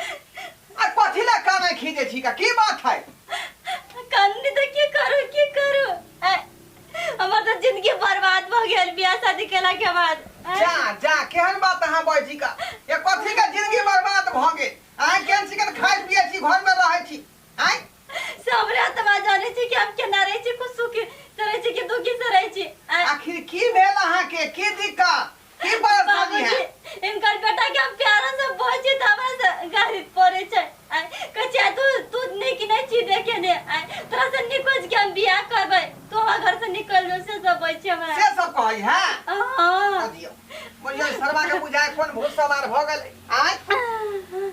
आ कथी ला काना खींचे छी का की बात है कंदी तो की करू की करू ऐ, हमर तो जिंदगी बर्बाद भ गेल बियाह शादी केला के बाद ऐ, जा जा केहन बात अहाँ बजी का ये कथी का जिंदगी बर्बाद भ गेल अहाँ केहन चिकन खाइ पिए छी घर में रहै छी आय से हमरा तऽ बात जानै छी कि हम केना रहै छी खुश सुखी से रहै छी कि दुखी से रहै छी आँय, आखिर की भेल अहाँके की दिक्कत की परेशानी है बाबूजी इनकर बेटा के हम प्यारा से बोल छी तऽ हमरा से गाड़ी पड़े छै आय कहै छै तू तू नीक नहि छी देखे ने आय तोरा से निकोज के हम बियाह करबै तू हमरा घर से निकल जो से सब बोल छै हमरा से सब कहै है हाँ बुझियौ बुझियौ ई शर्मा के बुझाय कोन भूत सवार भऽ गेलै आँय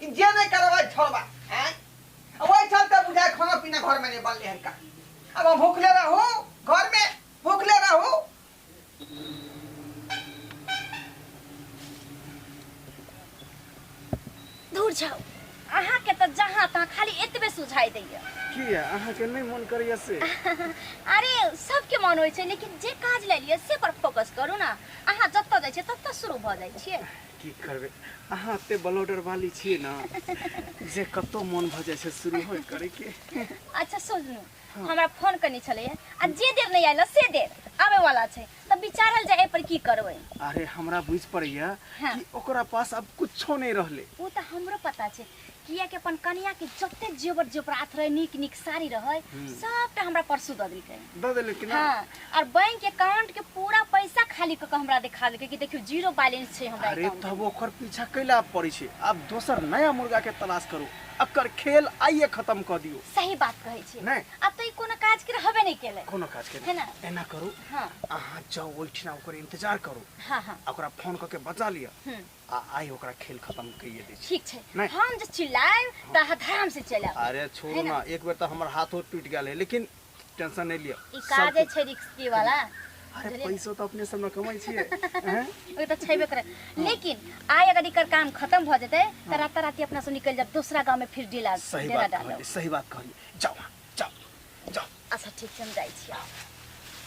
ई जे नहि करब ओहि ठल बा आँय अब ओहि ठल तऽ बुझाय खाना पीना घर में नहीं बनले हन का अब हम भूखले रहू घर में भूखले रहू दूर जाओ अहाँ के तो जहाँ तहाँ खाली एतबे सुझाई दैया की है अहाँ के नहीं मन करैया से अरे सबके मन होइ छै लेकिन जे काज ले लिअ से पर फोकस करू ने अहाँ जतऽ जाइ छियै ततऽ शुरू भऽ जाइ छियै की करबै अहाँ एते ब्लॉडर वाली छियै ना जे कतौ मन भऽ जाइ छै शुरू होय करै के अच्छा सोचलू हमरा फोन करने छलैए आ जे देर नहि आयल से देर आबे वाला छै तऽ विचारल जाए पर की करबै अरे हमरा बुझ पड़ैया हाँ। कि ओकरा पास अब कुछो नहीं रहले उ तऽ हमरो पता छै किया कि अपन कन्या के जते जेवर जेवरात रहे नीक नीक साड़ी रहे हम्म। सबटा हमरा परसू दऽ देलकै दऽ देले कि ना हाँ और बैंक अकाउंट के पूरा पैसा खाली कऽ के हमरा दिखा देलकै कि देखियो जीरो बैलेंस छै हमरा अरे अकाउंट तब ओकर पीछा कैला पड़ै छै आब दोसर नया मुर्गा के तलाश करू एकर खेल आइए खत्म कऽ दियौ सही बात कहै छै नहि। अब तो ई कोनो काज के रहबे नहीं केले कोनो काज के है ना? नहीं। एना करू हाँ अहाँ जाउ ओहिठिना ओकर इंतजार करू हाँ हाँ आ ओकरा फोन कऽ के बजा लिअ हम्म आ आइ ओकरा खेल खत्म कइए दै छी ठीक छै नहि। हम जे चिल्लाएब त अहाँ धर्म से चलब अरे छोड़ू है ना? ना एक बेर तो हमार हाथ उथ टूट गया है लेकिन टेंशन नहीं लियो ई सब काजे कुछ- छै रिक्सकी वाला अरे बुझलियै? पैसो तो अपने सब न कमाई छिए हैं? ओ त छैबे करे लेकिन आइ अगर एकर काम खत्म भ जेतै त राता राती अपना सब निकल जाब दूसरा गांव में फिर डेला सही डेरा बात डालब कहली सही बात कहली जाओ जा जा अच्छा ठीक छै हम जाइ छी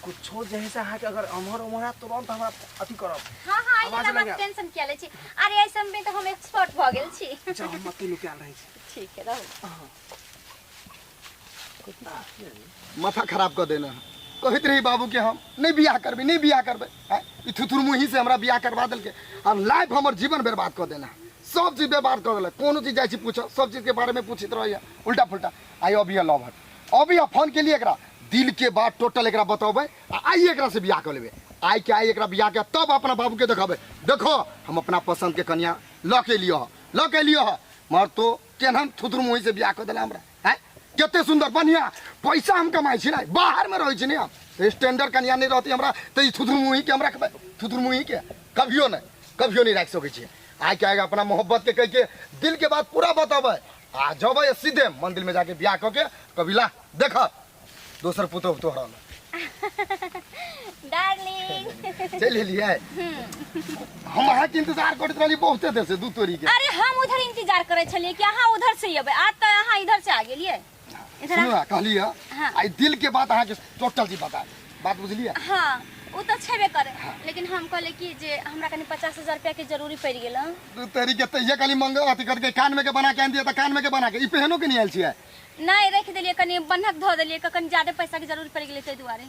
कुछो जहे से अहाँ के अगर अमहर उमहर है तुरंत हमरा अथी करब हाँ हाँ आवाज ये लगा। मत टेंशन किया ले छी अरे ऐसे में तो हम एक्सपर्ट भ गेल छी जा हम मत लुकाल रहे छी ठीक है रहू माथा खराब कर देना है कहत रही बाबू के हम नहीं बियाह करबे नहीं बियाह करबे हैं? ई थुथुर मुही से हमरा बियाह करवा देलके अब लाइफ हमर जीवन बर्बाद कर देना है। सब चीज बर्बाद कर देलक कोनो चीज जाइ छी पूछो सब चीज के बारे में पूछित रहैया उल्टा फुल्टा आइ अब यह लव हट अब यह फोन के लिए एकरा दिल के बात टोटल एकरा बताबे आ आई एकरा से बियाह कर लेबे आई के आई एकरा बियाह के तब अपना बाबू के देखाबे देखो हम अपना पसंद के कन्या ल के लियो ह ल के लियो ह मर तो केनहन थुथुर मुही से बियाह कर देला हमरा हैं केते सुंदर बढ़िया पैसा हम कमाई छी ना बाहर में रहै छी ने हम तो स्टैंडर्ड कन्या नहीं रहती हमरा तो ई थुथुर मुही के हम रखबे थुथुर मुही के कभियो नहीं कभियो नहीं रख सकै छी आइ के आगे अपना मोहब्बत के कह के दिल के बात पूरा बताबे आ जब ये सीधे मंदिर में जाके ब्याह कऽ के कबीला देख दोसर पुतो पुतो हरल डार्लिंग चल लिए हम अहाँ के इंतजार करत रहली बहुते देर से दू तोरी के अरे हम उधर इंतजार करे छलिए कि अहाँ उधर से अबे आज तो अहाँ इधर से आ गेलिए इधर सुनू आ- ना कहली है हाँ। आई दिल के बात अहाँ के टोटल जी बता दी। बात बुझलियै हाँ ओ तऽ छेबे करे लेकिन हम कहले कि जे हमरा कनी पचास हजार रुपया के जरूरी पड़ गेल हँ। दू तेरी के तहिया खाली मंग अथी करके कान में के बना के आन दिया त कान में के बना के ई पहनो के नहीं आयल छियै नहीं रख दिलिए कनी बन्हक धो दिलिए कनी ज्यादा पैसा के जरूरी पड़ गेल ताहि दुआरे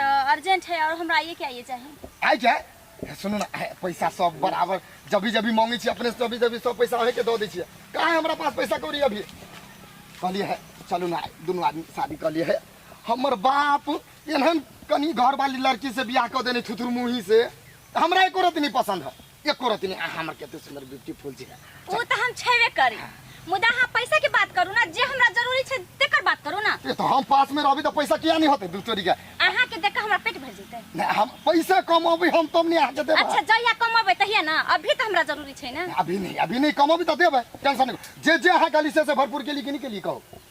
तो अर्जेंट है और हमरा आइए के आइए चाहिए आइ जाय हे, सुनू ना हे, पैसा सब बराबर जभी जभी मांगे छी अपने से जभी जभी सब पैसा अहे के दऽ दै छियै कहाँ है हमरा पास पैसा कौड़ी अभी कहलिए है चलू ना दुनू आदमी शादी कहलिए है हमर बाप एहन कनी घर वाली लड़की से बियाह कर देने थुथुर मुही से त हमरा एको रति नहीं पसंद है एको रति नहीं आ, हमर केते सुंदर ब्यूटीफुल छै वो तो हम छेबे करी मुदा हाँ पैसा के बात करू ना जे हमरा जरूरी छै तेकर बात करू ना ए तो हम पास में रहबी तो पैसा किया नहीं होते दू चोरी के अहाँ के देख के हमरा पेट भर जेतै नहीं, हम पैसा कमबी हम तुम नहीं आके देबे अच्छा जहिया कमबै तहिया ना अभी तो हमरा जरूरी छै ना अभी नहीं अभी नहीं कमबी तो देबे टेंशन नहीं जे जे अहाँ गली से से भरपूर के लिए कि नहीं के लिए कहो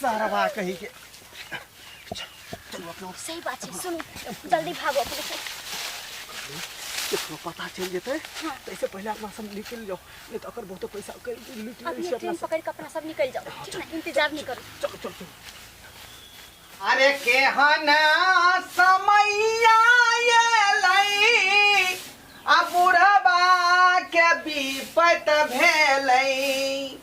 सारा बा कहीं के चलो अपना सही बात छै सुनू जल्दी भागो अपने से केकरो पता चल जेतै तऽ एहिसँ पहिले अपना सब निकलि जाउ नहि तऽ अगर बहुते पैसा के लूट अब लै ये छै अपना ट्रेन सब पकड़ के अपना सब निकल जाओ ठीक ना इंतजार नहीं करो चल चल चल अरे केहन समैया एलै आ बुढ़बा के विपत भेलै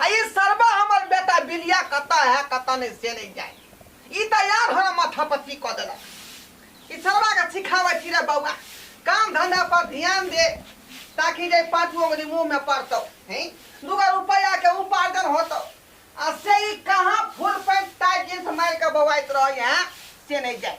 आ ई सरबा हमर बेटा बिलिया कतऽ हए कतऽ नहि से नहि जाए ई तऽ यार हमरा माथा पच्ची कऽ देलक ई सरबा के सिखाबै छी रे बौआ काम धंधा पर ध्यान दे ताकि जे पाँचो अंगुली मुंह में पड़तौ हैं दूगो रुपया के उपार्जन होतौ आ से ई कहाँ फुल पैंट टाइट जींस मारि के बौआइत रहै हैं से नहीं जाए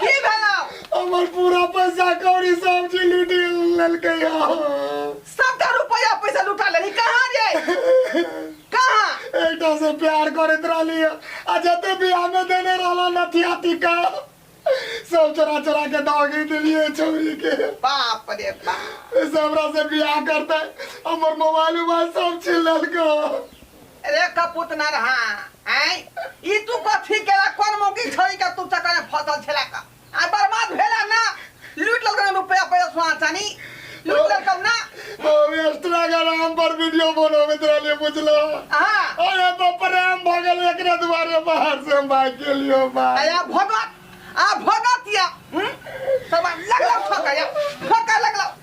की भेलो हमर पूरा पैसा कौड़ी सब जी लूट लेलकै हँ सबटा रुपया पैसा लुटा लेली कहाँ रे कहाँ एकटा से प्यार करैत रहली हँ आ जते बियाह में देने रहला नथिया टीका सब चोरा चोरा के दौगी देलिए छौरी के बाप रे बाप से हमरा से बियाह करते हमर मोबाइल उबाइल सब छीन लेलकै रे कपूत ना रहा आय ई तू कथी केला कोन मौकी छोड़ी के तू चक्कर में फसल छेला का आ बर्बाद भेला ना लूट लग रहा रुपया पैसा सुना चानी लूट लग कब ना हम एक्स्ट्रा का नाम पर वीडियो बनावे तेरा लिए बुझलो आहा अरे तो प्रेम भगल एकरे दुआरे बाहर से हम भाग के लियो बाहर आया भगत आ भगत या हम्म? सब लग लग ठोका या ठोका लग लग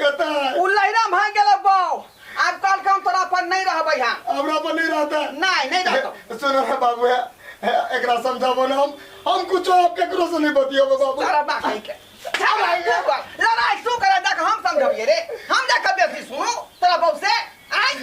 कता उ लहरा भाग गेलो बाऊ आब काल काम तोरा पर नहीं रहबै हम हमरा पर नहीं रहता नहीं नहीं रहतो सुनो रे बाबू है एकरा समझाबो ना हम हम कुछ आप केकरो से नहीं बतियाबो बाबू सारा बात है के लड़ाई तू कर लड़ाई तू कर देख हम समझबिए रे हम देख बेसी सुनो तोरा बाऊ से आई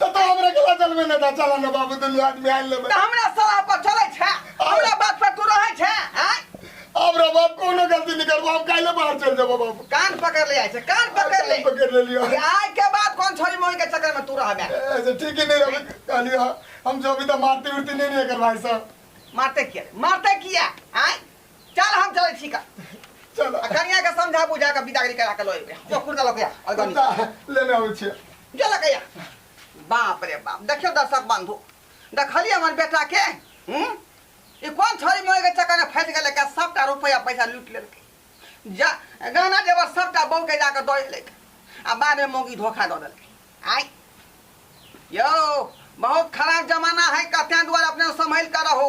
तो तो हमरा के लचल में ना चला ना बाबू दुनिया आदमी आइल लेबे त हमरा सलाह पर चलै छै हमरा बात पर तू रहै छै आय अब रे बाप कोनो गलती नहीं करबो हम काइले बाहर चल जाबो बाबू कान पकड़ ले आइ छै कान पकड़ ले पकड़ ले लियो कि आइ के बाद कोन छोरी मोरी के चक्कर में तू रहबे ऐसे ठीक ही नहीं रहे कहलियो हम जो भी तो मारती उड़ती नहीं नहीं कर भाई साहब मारते किया मारते किया आय चल हम चलै छी का चलो आ कनिया के समझा बुझा के बिदागरी करा के लइबे जो कुर्ता लके आ गनी कुर्ता लेने आबै छियै जो लके या बाप रे बाप देखियो दर्शक बंधु देखली हमर बेटा के हम्म ई कोन छोरी मोए के चक्कर में फंस गेले का सबटा रुपया पैसा लूट लेलके जा गहना जेवर सबटा बहू के जाके दऽ लेलके आ बाद में मोगी धोखा दऽ देलके आई यो बहुत खराब जमाना है कत्या द्वारा अपने संभल कर रहो